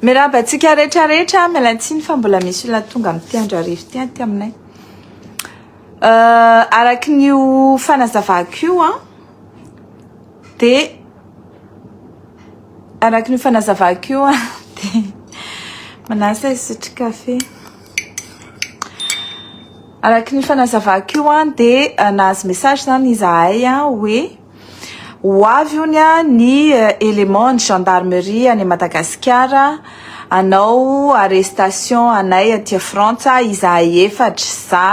Miraba antsika rehetra rehetra, miala tsiny fa mbola misy olona tonga amin'ity andro hariva ity aty aminay. Euh, araky ny ho fanazavako io an, Dia araka ny fanazavako io an, dia manasa hisotro kafe. Araka ny fanazavako io an, dia nahazo message izany izahay an, hoe ho avy ony an ny élément ny gendarmerie any Madagasikara hanao arrestation anay aty Frantsa izahay efatra za,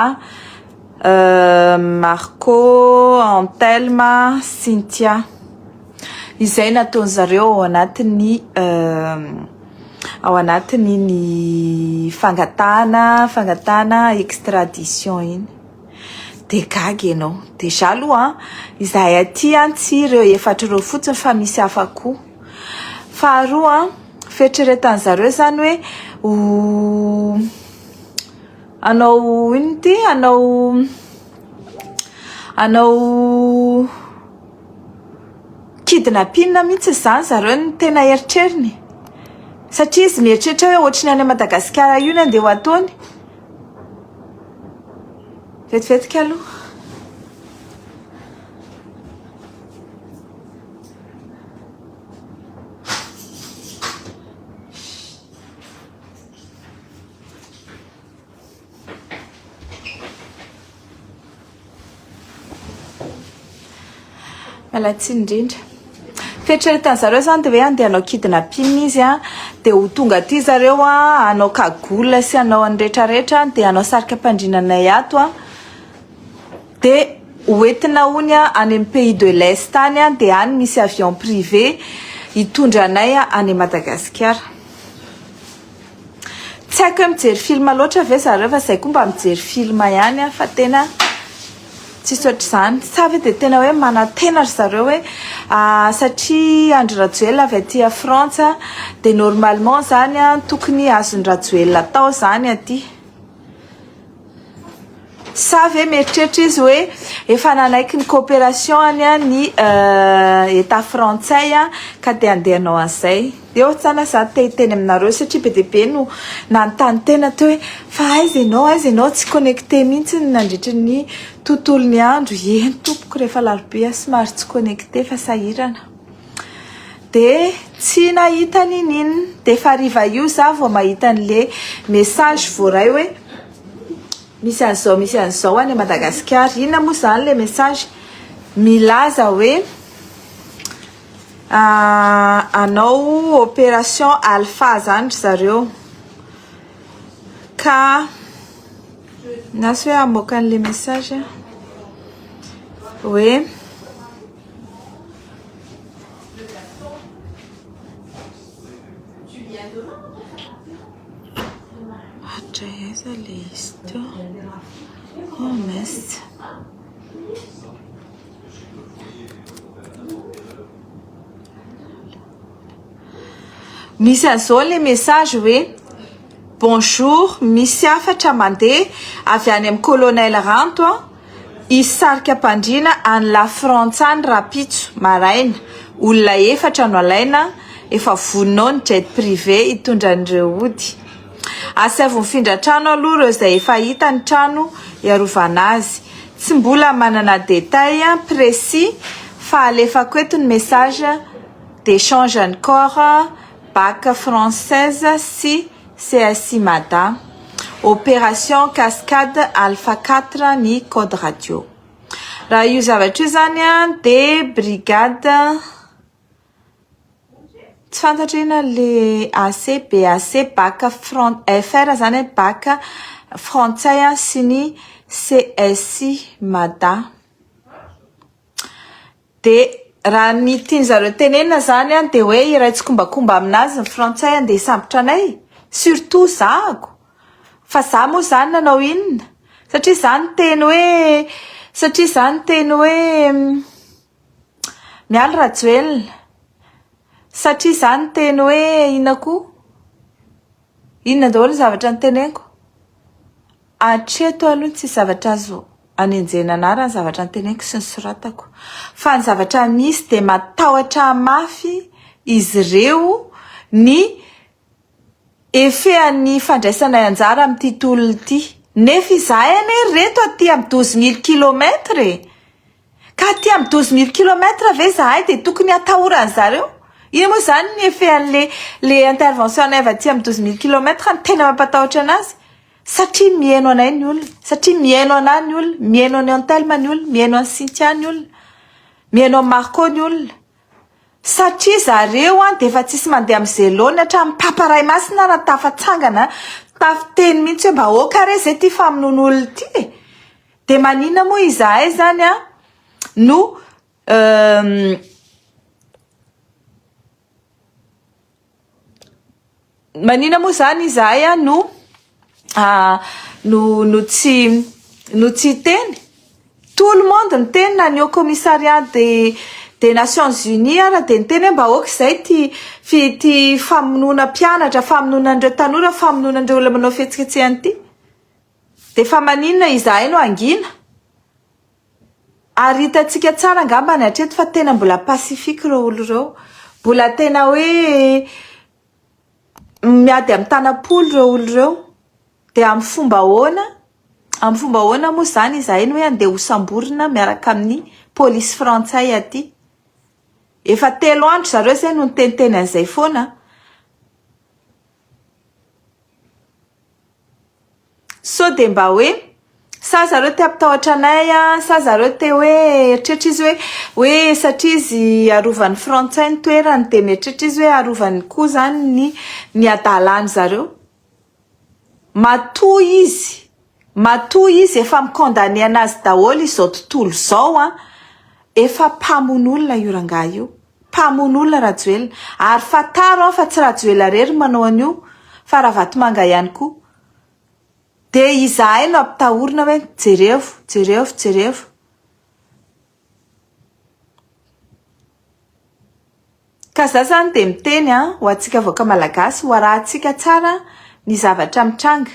Marco, Antelme, Cynthia. Izay nataony zareo ao anatin'ny ao anatiny ny fangatahana fangatahana extradition iny. De gaga ianao. Dejà aloha izahay aty tsy ireo efatra ireo fotsiny fa misy hafa koa. Faharoa, fieritreretan'i zareo zany hoe ho Anao inona ity? Anao anao kidnapping mihitsy izany zareo no tena eritreriny satria izy mieritreritra hoe ohatry ny any Madagasikara io ny andeha ho ataony. Vetivetika aloha. Malatsiny indrindra. Fieritreretan'ny zareo zany dia hoe andeha hanao kidnapping izy a, dia ho tonga aty zareo a, hanao cagoule sy hanao an'ny rehetrarehetra, dia hanao sarika am-pandriana anay ato a, dia hoentina hono any amin'ny pays de l'est any a, dia any misy avion privé hitondra anay any Madagasikara. Tsy haiko hoe mijery film loatra ve zareo fa zay koa mba mijery film ihany aho fa tena tsisy ohatr'izany sa ve dia tena hoe manantena ry zareo hoe satria Andry Rajoelina avy aty frantsa dia normalement zany tokony azon'i Rajoelina atao zany aty Sa ve mieritreritra izy hoe efa nanaiky ny coopération-ny ny Etat frantsay ka dia andeha hanao an'izay? Eo tsaho za te hiteny aminareo satria be dia be no nanontany tena teo hoe fa aiza ianao, aiza ianao? Tsy connecté mihitsy nandritra ny tontolon'ny andro. Eny tompoko, rehefa alarobia aho somary tsy connecté fa sahirana. Dia tsy nahita n'in'inona. Dia efa hariva io za vao mahita an'le message voaray hoe misy an'izao misy an'izao any Madagasikara. Inona moa izany ilay message? Milaza hoe hanao opération alpha izany ry zareo ka na sao hoe hamoaka an'ilay message hoe. Misy an'izao ilay message hoe bonjour misy hafatra mandeha avy any amin'ny colonel Ranto an. Hisy sarikam-pandriana any La Frantsa any rahampitso maraina. Olona efatra no alaina, efa vonona ao ny jet privé hitondra an'ireo hody. Asaivo mifindra trano aloha ireo izay efa hita ny trano hiarovana azy. Tsy mbola manana détail précis fa alefako eto ny message d'échange an'i Corps, Bac française sy. CSI Mada, Opération Cascade Alpha Quatre ny Code Radio. Raha io zavatra io izany dia brigade tsy fantatra inona ilay AC, BAC, BAC fran- FR izany hoe BAC frantsay sy ny CSI Mada. Dia raha ny tiany zareo tenenina zany an dia hoe iray tsikombakomba aminazy ny frantsay andeha hisambotra anay surtout zahako fa za moa zany nanao inona satria za niteny hoe satria za niteny hoe mialy rajoelina satria za niteny hoe inona koa inona daholo ny zavatra niteneniko Hatreto aloha tsisy zavatra azo anenjehina anarany ny zavatra noteneniko sy nosoratako. Fa ny zavatra misy dia matahotra mafy izy ireo ny efehan'ny fandraisanay anjara amin'ity tolona ity. Nefa izahay anie ry reto aty amin'ny douze mille kilomètre e! Ka aty amin'ny douze mille kilomètre ve izahay dia tokony hatahora an-dry zareo? Inona moa izany ny efehan'ilay ilay intervention-nay avy aty amin'ny douze mille kilomètre no tena mampatahotra an'azy? Satria mihaino anay ny olona, satria mihaino anah ny olona, mihaino an'i Antelme ny olona, mihaino an'i Cynthia ny olona, mihaino an'i Marco ny olona. Satria zareo an dia efa tsisy mandeha amin'ny zelony hatramin'ny Papa Ray Masina ary tafatsangana tafiteny mihitsy hoe mba aoka re izay ity famonoana olona ity e! Dia maninona moa izahay izany an no Manina moa zany izahay a no ah, no no tsy no tsy hiteny? Tout le monde niteny na ny haut commissariat de des nations unies ara de niteny hoe mba aoka izay ity fi ity famonoana mpianatra, famonoana an'ireo tanora, famonoana an'ireo olona manao fihetsiketsehana ity, de fa manina izahay no hangina? Ary hitantsika tsara angambany hatreto fa tena mbola pacifique ireo olo ireo. Mbola tena hoe miady amin'ny tanam-polo ireo olo ireo. Dia amin'ny fomba ahoana? Amin'ny fomba ahoana moa izany izahay no hoe handeha hosamborina miaraka amin'ny polisy frantsay aty? Efa telo andro zareo izay no niteniteny an'izay foana. Sao dia mba hoe, sa zareo te hampitahotra anay a, sa zareo te hoe eritreritra izy hoe, hoe satria izy arovan'ny frantsay ny toerany dia mieritreritra izy hoe arovany koa izany ny ny hadalan'ny zareo. Matoa izy. Matoa izy efa mi condamne anazy daholo izao tontolo izao an! Efa mpamono olona io rangahy io! Mpamono olona Rajoelina! Ary fantaro an fa tsy Rajoela rery manao an'io fa Ravatomanga ihany koa! Dia izahay no ampitahorina hoe jerevo, jerevo, jerevo! Ka za zany dia miteny an, ho antsika vahoaka malagasy, ho arahintsika tsara ny zavatra mitranga.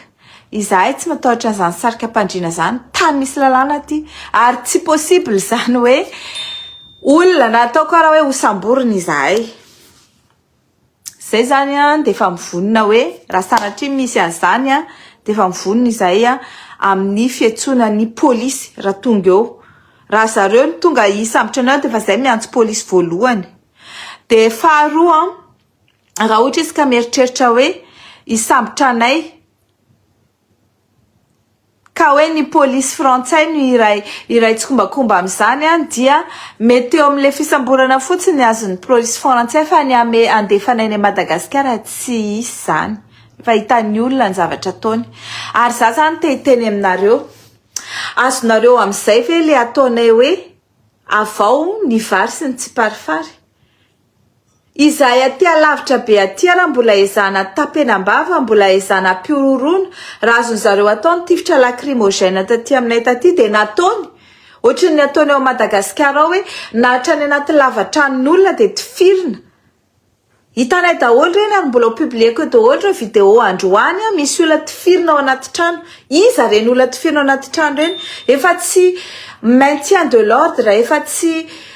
Izahay tsy matahotra an'izany sarikam-pandriana izany, tany misy lalàna aty, ary tsy possible izany hoe olona na atao karaha hoe ho samborina izahay. Zay zany an dia efa mivonona hoe raha sanatria misy an'izany an dia efa mivonona izahay an amin'ny fiantsoana ny polisy raha tonga eo. Raha zareo no tonga hisambotra anao dia efa izay miantso polisy voalohany. Dia faharoa an, raha ohatra izy ka mieritreritra hoe hisambotra anay, ka hoe ny polisy frantsay no iray iray tsikombakomba amin'izany an, dia mety eo amin'ilay fisamborana fotsiny ny azon'ny prolisy frantsay fa ny ame andefana eny Madagasikara tsy hisy izany fa hitan'ny olona ny zavatra ataony ary za zany te hiteny aminareo azonareo amin'izay ve le ataonay hoe avao ny vary sy ny tsiparifary Izahay aty alavitra be aty ara mbola ezahana tapenam-bava, mbola ezahana ampihorohoroana, raha azon'ny zareo atao ny tifitra lakrimogène taty aminay taty dia nataony, ohatry ny ataony ao Madagasikara ao hoe na hatrany anaty lava-tranon'olona dia tifirina, hitanay daholo ireny ary mbola ho publieko eo daholo ireo vidéo androany, misy olona tifirina ao anaty trano, iza ireny olona tifirina ao anaty trano ireny? efa tsy maintien de l'ordre, efa tsy.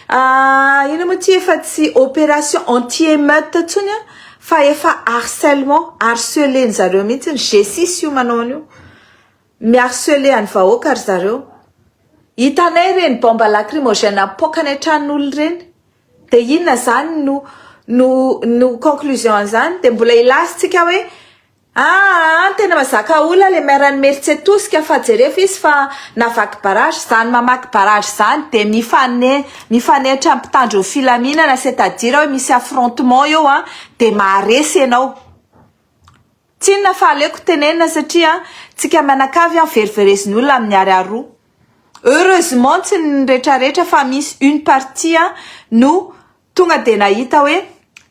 Ah ino moa ty efa tsy opération anti émeute tsony a fa efa harcèlement harceler ny zareo mihitsy ny G six io manao an'io mi harceler any vahoaka ry zareo hitanay reny bombe lacrymogène apoaka any an-tranon'olo reny de inona zany no no no conclusion an'izany de mbola hilaza tsika hoe Aah tena mazaka olona le maire ny mertse tosika fa jerefo izy fa navaky barrage zany mamaky barrage zany de mifane mifanehitra mpitandro ny filaminana c'est à dire oe misy affrontement eo an de maharesy enao tsinona fa aleko tenenina satria tsika mianakavy an verivereziny olona amin'ny ary aroa heureusement tsy ny retraretra fa misy une partie an no Tonga dia nahita hoe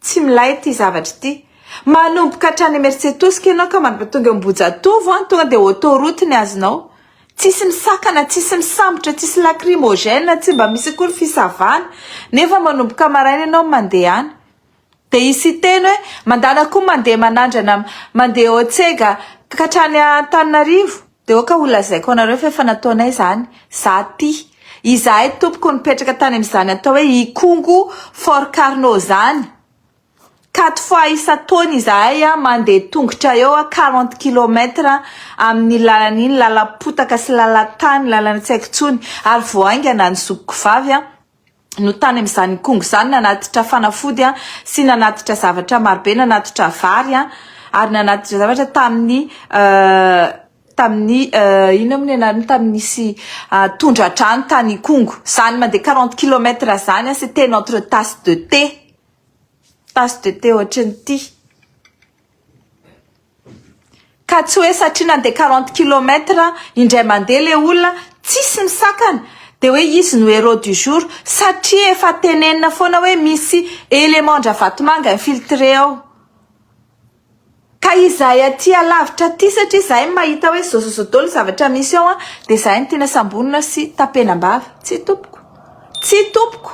tsy milay ity zavatra ity. Manomboka hatrany Imerintsiatosika ianao ka mandroba tonga eo Ambohijatovo an, tonga dia autoroute ny azonao. Tsisy misakana, tsisy misambotra, tsisy lacrymogène, tsy mba misy akory fisavana. Nefa manomboka maraina ianao mandehana. Dia hisy hiteny hoe mandana koa mandeha manandrana, mandeha Otsega ka hatrany Antananarivo. Dia aoka ho lazaiko anareo fa efa nataonay izany. Za ty. Izahay tompoko nipetraka tany amin'izany atao hoe Ikongo Fort Carno izany. Quatre fois isan-taona izahay an, mandeha tongotra eo an, quarante kilomètres amin'iny lalana iny, lalam-potaka sy lalan-tany, lalana tsy haiko intsony, ary vao haingana ny zokiko vavy an, no tany amin'izany kongo izany nanatitra fanafody sy nanatitra zavatra marobe, nanatitra vary ary nanatitra zavatra tamin'ny tamin'ny inona moa ny anarany tamin'ny nisy tondradrano tany kongo. Izany mandeha quarante kilomètre izany c'est tena entre tasse de thé, tasse de thé ohatran'ity. Ka tsy hoe satria nandeha quarante kilomètre indray mandeha le olona tsisy misakana de hoe izy no héros du jour satria efa tenenina foana hoe misy élément-dRavatomanga infiltré ao. Ka izahay aty alavitra aty satria izahay no mahita hoe zozozo daholo ny zavatra misy ao an, dia izahay no tiana samborina sy tapenam-bava. Tsia tompoko. Tsia tompoko,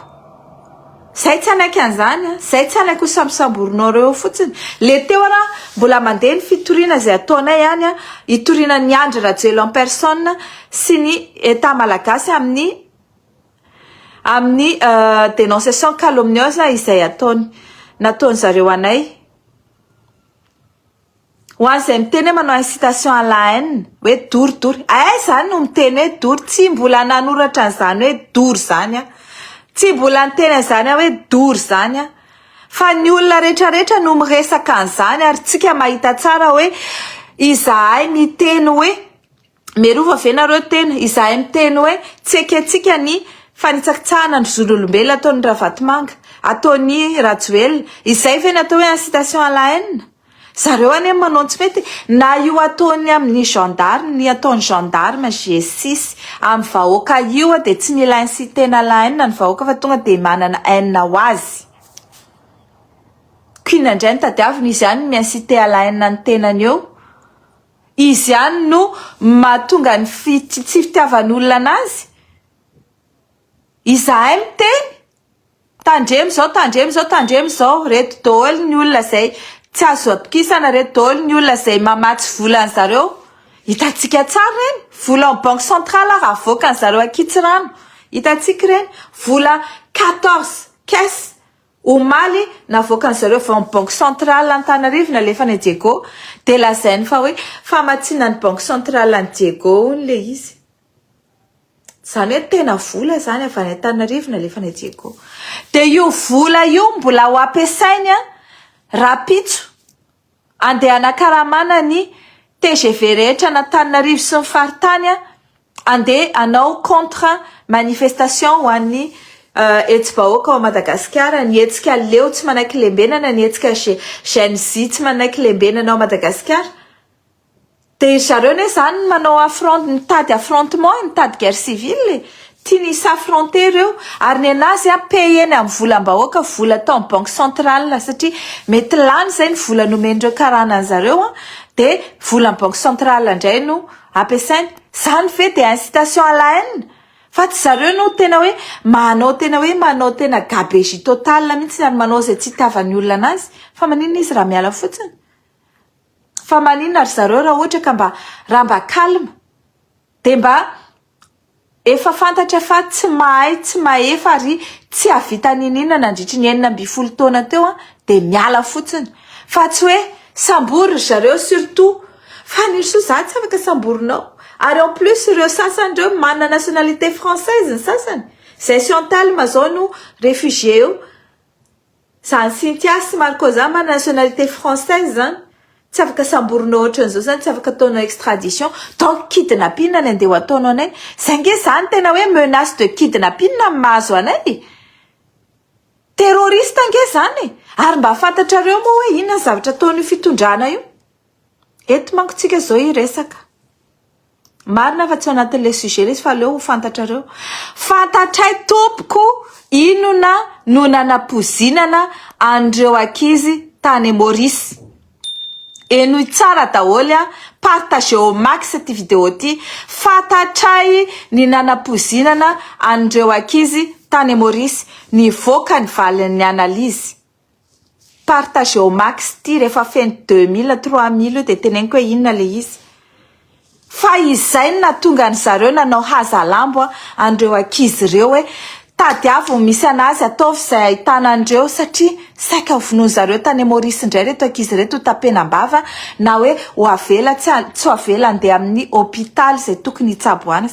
zay tsy hanaiky an'izany an, zay tsy hanaiky ho sambosamborinareo eo fotsiny, le teo ara mbola mandeha ny fitoriana izay ataonay any an, hitoriana an'i Andry Rajoelina en personne sy ny Etat Malagasy amin'ny amin'ny denonciation calomnieuse izay ataony, nataony zareo anay. Ho an'izay miteny hoe manao incitation à la haine hoe doro doro, aiza izany no miteny hoe doro? Tsy mbola nanoratra an'izany hoe doro izany aho, tsy mbola niteny an'izany aho hoe doro izany aho, fa ny olona rehetra rehetra no miresaka an'izany ary isika mahita tsara hoe izahay miteny hoe Miarova ve nareo tena? Izahay miteny hoe tsy ekentsika ny fanitsakitsahana ny zon'olombelona ataon'i Ravatomanga, ataon'i Rajoelina. Izay ve ny atao hoe incitation à la haine? Zareo anie no manao ny tsy mety. Na io ataony amin'ny gendarme, ny ataon'ny gendarme, GSIS, amin'ny vahoaka io dia tsy mila inciter-na à la haine ny vahoaka fa tonga dia manana haine ho azy. Ko inona indray no tadiavina? Izy ihany no mi-inciter à la haine ny tenany eo. Izy ihany no mahatonga ny fi tsy fitiavan'olona anazy? Izahay miteny, tandremo izao, tandremo izao, tandremo izao, reto daholo ny olona izay tsy azo atokisana, reto daholo ny olona izay mamatsy vola an'i zareo, hitantsika tsara ireny, vola ao banque centrale ary avoakan'i zareo ankitsirano, hitantsika ireny, vola quatorze caisse. Omaly, navoakan'ny zareo vao ny Banque Centrale Antanarivo nalefany an'i Diego dia lazainy fa hoe famatsiana ny Banque Centrale an'i Diego hono ilay izy. Izany hoe tena vola izany avy any Antananarivo nalefany an'i Diego. Dia io vola io mbola ho ampiasainy rahampitso Andeha hanakaramana ny tgv rehetra an' Antananarivo sy ny faritany, andeha hanao contre manifestation ho an'ny hetsi-bahoaka ao Madagasikara, ny hetsika leo tsy manaiky lembenana, ny hetsika Gen Z tsy manaiky lembenana ao Madagasikara. Dia zareo anie zany ny manao affront mitady affrontement e, mitady guerre civile e, tiany hi s'affronter ireo, ary ny anazy a payeny amin'ny volam-bahoaka, vola atao amin'ny banque centrale, satria mety lany izay ny vola nomen'ireo karana an'zareo an, dia volan'ny banque centrale indray no ampiasainy, zany ve dia incitation à la haine? fa tsy zareo no tena hoe manao tena hoe manao tena gabegie totale mihintsy ary manao izay tsy hitiavan'ny olona anazy, fa maninona izy raha miala fotsiny? Fa maninona ry zareo raha ohatra ka mba raha mba calme dia mba efa fantatra fa tsy mahay tsy mahefa ary tsy hahavita niniana nandritry ny enina ambin'ny folo taona teo an dia miala fotsiny fa tsy hoe sambory ry zareo surtout fa ny soa za tsy afaka samborinao ary en plus ireo sasany ireo manana nationalité française ny sasany izay sy en talme zao no réfugié eo Zany Cynthia sy Marco zany manana nationalité française zany tsy afaka samborina ohatran'izao zany tsy afaka ataonao extradition donc kidnapina ny andeha ho ataonao anay zay nge zany tena hoe menace de kidnapina ny mahazo anay e! terroriste nge zany e! ary mba fantatrareo moa hoe inona ny zavatra ataon'io fitondrana io? Eto manko tsika zao hiresaka. Marina fa tsy ao anatin'ilay sujet ilay izy fa aleo ho fantatrareo. Fantatray tompoko inona no nanapozinana an'ireo ankizy tany Maurice. Henoy tsara daholo an, partagez au max ity video ity. Fantatray ny nanapozinana an'ireo ankizy tany Maurice. Nivoaka ny valin'ny analyse. Partageo max ity rehefa feno deux mille trois mille io dia teneniko hoe inona ilay izy fa izay no nahatonga an-dry zareo nanao hazalambo an'ireo ankizy ireo hoe tadiavo ny misy an'azy ataovy izay ahitana an'ireo satria saika ho vonoin'ny zareo tany Maorisy indray ireto ankizy ireto ho tapenam-bava na hoe ho avela tsy ho avela handeha amin'ny hopitaly izay tokony hitsaboana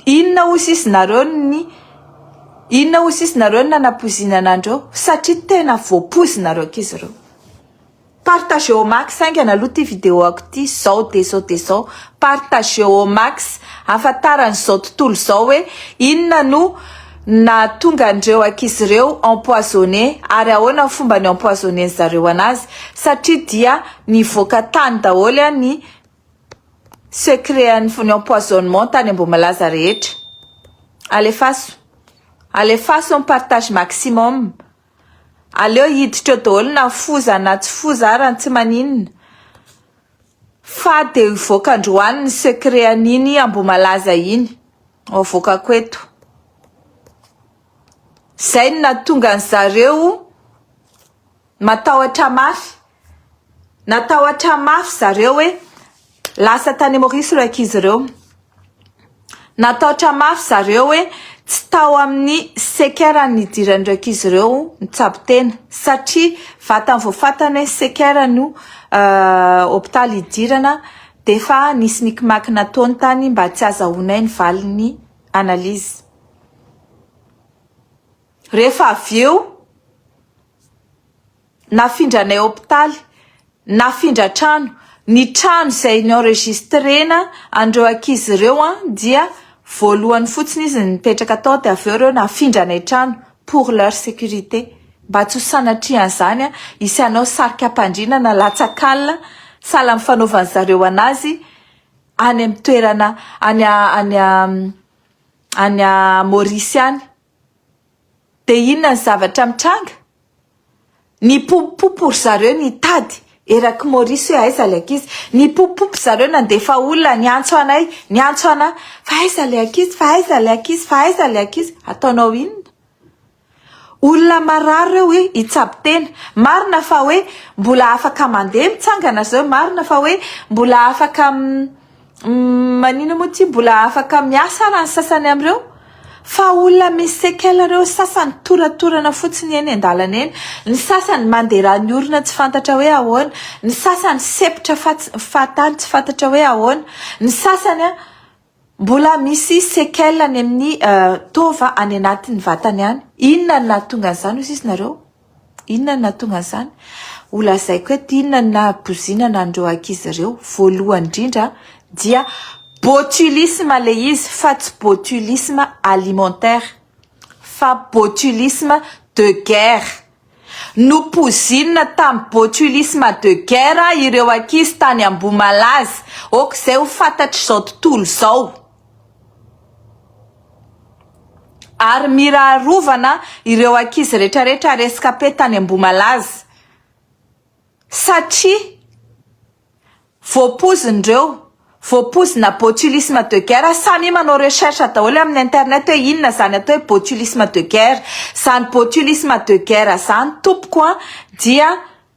Inona hoy sisy nareo ny inona hoy sisy nareo ny nanapoizinana andreo satria tena voapoizina reo ankizy ireo. Partagé au max haingana aloha ity vidéo ako ity zao de zao de zao partagé au max ahafantarany izao tontolo izao hoe inona no nahatonga andreo ankizy ireo empoisonné ary ahoana ny fomba ny empoisonné ny zareo anazy satria dia nivoaka tany daholo ny Secret an'i Vonio empoisonnement tany Ambohimalaza rehetra. Alefaso. Alefaso ny partage maximum. Aleo hiditra eo daholo na foza na tsy foza ara tsy maninona fa dia hivoaka androany ny secret an'iny Ambohimalaza iny. Hoavoakako eto. Izay no nahatonga an'i zareo matahotra mafy. Natahotra mafy zareo hoe lasa tany Maorisy ireo ankizy ireo. Natahotra mafy zareo hoe tsy tao amin'ny sekera nidiran'ireo ankizy ireo ny tsabo tena satria vatany vao fantany hoe sekera no hopitaly hidirana dia efa nisy nikimaky nataony tany mba tsy hazahoanay ny valin'ny analyse. Rehefa avy eo. nafindranay hopitaly, nafindra trano, ny trano izay ni-enregistrena an'ireo ankizy ireo an, dia voalohany fotsiny izy nipetraka tao dia avy eo ireo nafindranay trano pour leur sécurité, mba tsy ho sanatrian'izany an, hisy hanao sarikam-pandriana na latsak'alina sahala amin'ny fanaovan'ny zareo an'azy any amin'ny toerana any any Maurice any. Dia inona ny zavatra mitranga? Nipompopompo ry zareo nitady eraky Maurice hoe aiza ilay ankizy. Nipompopompo zareo nandefa olona niantso anay, niantso anà, fa aiza ilay ankizy, fa aiza ilay ankizy, fa aiza ilay ankizy. Ataonao inona? Olona marary ireo hoe hitsabo tena. Marina fa hoe mbola afaka mandeha mitsangana ry zareo, marina fa hoe mbola afaka Manino moa ty mbola afaka miasa ara ny sasany amin'ireo? Fa olona misy séquelles ireo sasany toratorana fotsiny eny an-dalana eny, ny sasany manderahan'ny orona tsy fantatra hoe ahoana, ny sasany sepitra fahatany tsy fantatra hoe ahoana, ny sasany mbola misy séquelles any amin'ny taova any anatin'ny vatany any. Inona no nahatonga an'izany hoy sisinareo? Inona no nahatonga an'izany? Holazaiko eto inona no nahabozinana an'ireo ankizy ireo. Voalohany indrindra dia botulisme ilay izy fa tsy botulisme alimentaire fa botulisme de guerre. Nopozinina tamin'ny botulisme de guerre ireo ankizy tany Ambohimalaza. Aoka izay ho fantatr'izao tontolo izao. Ary mira arovana ireo ankizy retraretra rescape tany Ambohimalaza satria voapozin'ireo voapozina botulisme de guerre, samia manao recherche daholo amin'ny internet hoe inona izany atao hoe botulisme de guerre, izany botulisme de guerre izany tompoko an dia.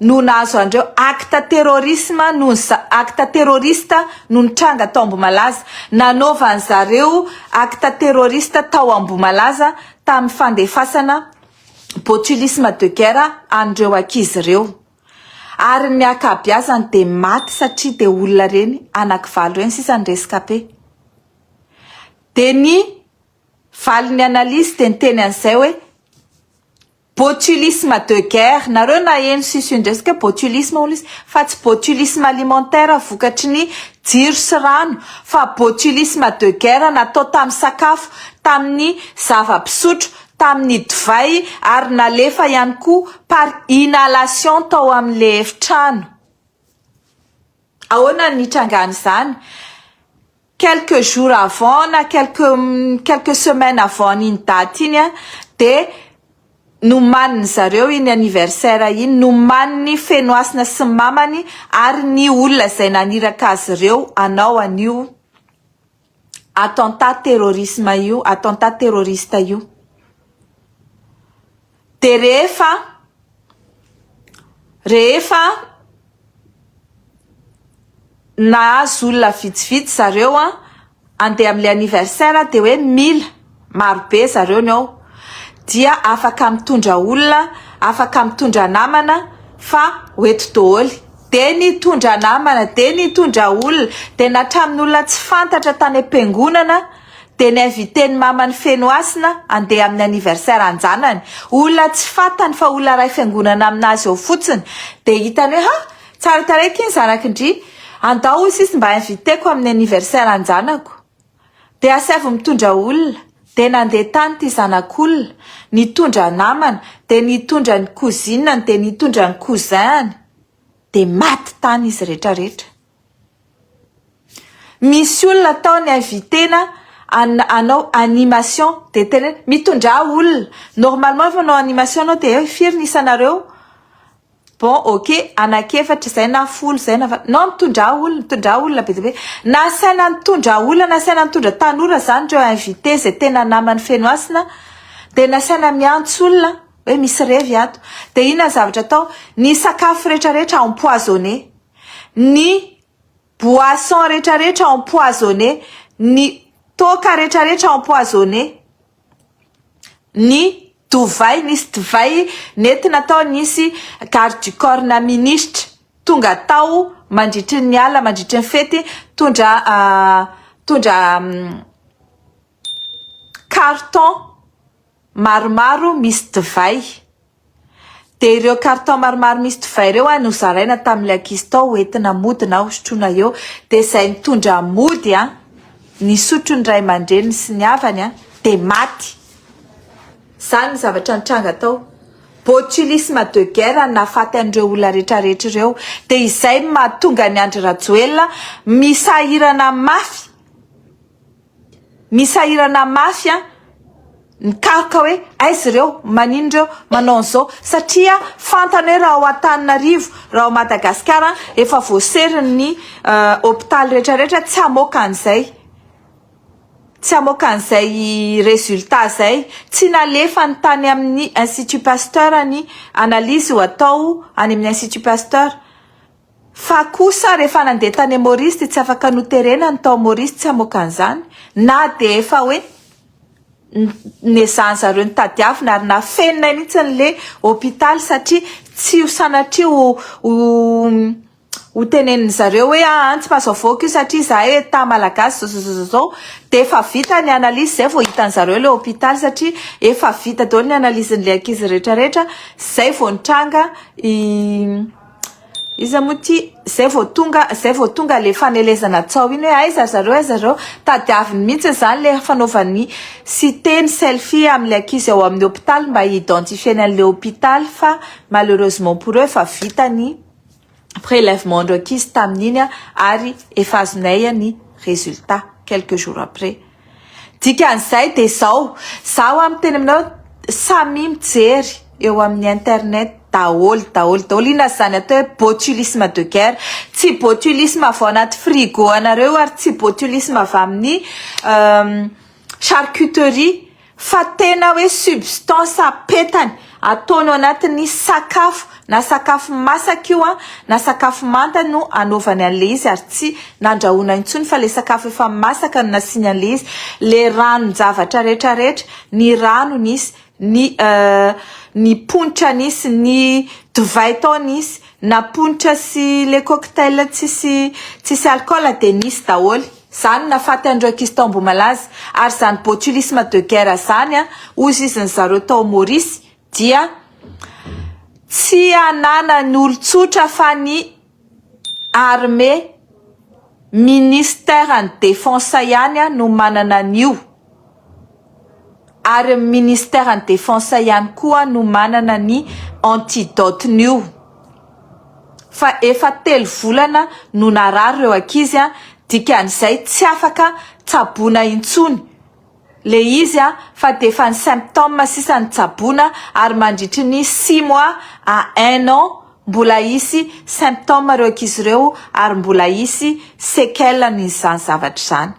no nahazo an'ireo acte terrorisme noho ny acte terroriste no nitranga tao Ambohimalaza. Nanaovan'ny zareo acte terroriste tao Ambohimalaza tamin'ny fandefasana botulisme de guerre an'ireo ankizy ireo. Ary ny akabiazany dia maty satria dia olona ireny anaky valo ireny sisa ny rescape. Dia ny valin'ny analyse dia niteny an'izay hoe. Botulisme de guerre, nareo naheno sisune resaka botulisme hono izy fa tsy botulisme alimentaire vokatry ny jiro sy rano fa botulisme de guerre natao tamin'ny sakafo, tamin'ny zava-pisotro, tamin'ny divay ary nalefa ihany koa par inhalation tao amin'ilay efitrano. Ahoana ny nitrangan'izany? quelques jours avant na quelques quelques semaines avant an'iny date iny a de nomanin'ny zareo iny anniversaire iny nomaniny Fenohasina sy ny mamany ary ny olona izay naniraka azy ireo hanao an'io attentat terrorisme io attentat terroriste io Dia rehefa, rehefa nahazo olona vitsivitsy zareo an, andeha amin'ilay anniversaire dia hoe mila marobe zareo ny ao, dia afaka mitondra olona, afaka mitondra namana fa ho eto doholy. Dia nitondra namana, dia nitondra olona, dia na hatramin'olona tsy fantatra tany am-piangonana, Dia n'inviter ny mamany feno hasina handeha amin'ny anniversaire an-janany, olona tsy fantany fa olona iray fiangonana amin'azy ao fotsiny, dia hitany hoe ha! tsara tarehy ity ny zanak'i-ndry, andao hoy sisy mba inviter-ko amin'ny anniversaire an-janako. Dia asaivo mitondra olona, dia nandeha tany ity zanak'olona, nitondra namana, dia nitondra ny cousine-ny, dia nitondra ny cousin-ny, dia maty tany izy rehetra rehetra. Misy olona atao ny invitena hanao animation dia tena hoe mitondrà olona, normalement rehefa manao animation ianao dia hoe firy ny isanareo? bon ok anak'efatra izay na folo izay na valo, nao mitondrà olona, mitondrà olona be dia be, na asaina nitondra olona na asaina nitondra tanora izany ireo invité izay tena naman'i Fenohasina dia nasaina miantso olona hoe misy revy ato dia inona ny zavatra atao? ny sakafo rehetra rehetra empoisonné. ny boisson retraretra empoisonné, ny toaka retraretra empoisonné, ny dovay nisy divay nentina tao nisy garde du corps na ministra tonga tao mandritry ny alina mandritry ny fety nitondra nitondra carton maromaro misy divay. Dia ireo carton maromaro misy divay ireo an no zaraina tamin'ilay ankizy tao ho entina mody na hosotroina eo. Dia izay nitondra mody an, nisotro ny ray aman-dreniny sy ny havany an, dia maty. Izany ny zavatra nitranga tao. Botulisme de guerre no nahafaty an'ireo olona rehetrarehetra ireo. Dia izay no mahatonga an'i Andry Rajoelina misahirana mafy. Misahirana mafy an! Mikaroka hoe aiza ireo, manino ireo, manao an'izao satria fantany hoe raha ao Antananarivo, raha ao Madagasikara efa voaserin'ny hopitaly rehetra rehetra tsy hamoaka an'izay, tsy hamoaka an'izay résultat izay. Tsy nalefany tany amin'ny Institut Pasteur ny analyse ho atao any amin'ny Institut Pasteur. Fa kosa rehefa nandeha tany Maurice dia tsy afaka noterena ny tao Maurice tsy hamoaka an'izany na dia efa hoe nezahan zareo ny tadiavina ary nafeninay mihitsy ny le hopitaly satria tsy ho sanatria ho ho tenenin'ny zareo hoe aa tsy mahazo avoaka io satria izahay etat malagasy zao zao zao zao dia efa vita ny analyse izay vao hitan'ny zareo le hopitaly satria efa vita daholo ny analyse ny le ankizy rehetra rehetra izay vao nitranga i Iza moa ity? Zay vao tonga, zay vao tonga le fanelezana tsaho iny hoe aiza ry zareo aiza ry zareo? Tadiaviny mihitsy izany le fanaovany site ny selfie amin'ilay ankizy ao amin'ny hopitaly mba hi-identifier-ny an'ilay hopitaly fa malheureusement pour eux efa vita ny prelèvement-ndreo ankizy tamin'iny ary efa azonay ny résultat quelques jours après. Dikan'izay dia izao, za ho'a miteny aminao, samia mijery eo amin'ny internet daholo daholo daholo, inona izany atao hoe botulisme de guerre, tsy botulisme avy ao anaty frigo anareo io ary tsy botulisme avy amin'ny charcuterie. Fa tena hoe substance apetany ataony ao anatin'ny sakafo, na sakafo masaka io an, na sakafo manta no anaovany an'ilay izy ary tsy nandrahoina intsony fa ilay sakafo efa masaka no nasiany an'ilay izy, ilay ranon-javatra rehetra rehetra, ny rano nisy, ny ny ponitra nisy, ny divay tao nisy, na ponitra sy ilay cocktail tsisy tsisy alcool dia nisy daholo. Zany nafaty an'ireo Kistombo malaza, ary zany botulisme de guerre zany an, ozizin'ny zareo tao Maurice dia tsy ananan'ny olon-tsotra fa ny armée, ministère ny defense ihany an no manana an'io. Ary ny ministère ny defense ihany koa no manana ny antidote nio fa efa telo volana no narary ireo ankizy an, dikan'izay tsy afaka tsaboina intsony le izy an, fa dia efa ny symptome sisa no tsaboina ary mandritry ny six mois à un an mbola hisy symptome ireo ankizy ireo ary mbola hisy sequelles an'izany zavatra izany.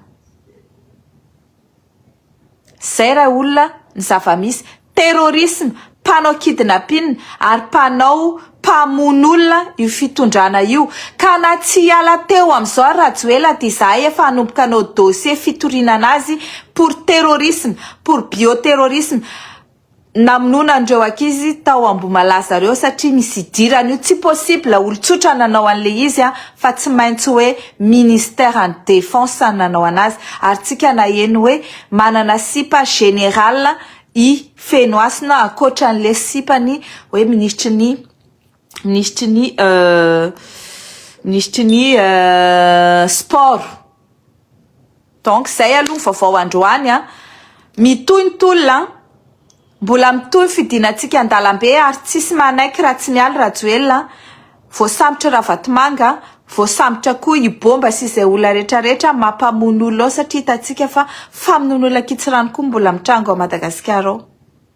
Zay ra olona ny zavamisy. Terrorisme, mpanao kidnapin ary mpanao mpamono olona io fitondrana io. Ka na tsy hiala teo amizao ary Rajoela dia izahay efa hanomboka hanao dossier fitoriana anazy pour terrorisme, pour bioterrorisme. namonoana an'ireo ankizy tao Ambohimalaza zareo satria misy idirany io tsy possible olon-tsotra nanao an'ilay izy a fa tsy maintsy hoe ministère ny défense no nanao an'azy ary tsika naheno hoe manana sipa général i Fenohasina ankoatra an'ilay sipany hoe ministry ny Minisitry ny Minisitry ny Sport. Donc zay aloha ny vaovao androany an. Mitohy ny tolona an. Mbola mitohy ny fidinantsika an-dalambe ary tsisy manaiky raha tsy mialy Rajoelina. Voasambotra Ravatomanga, voasambotra koa i Bomba sy izay olona rehetra rehetra mampamono olona ao satria hitantsika fa famonoana olona an-kitsirano koa mbola mitranga ao Madagasikara ao.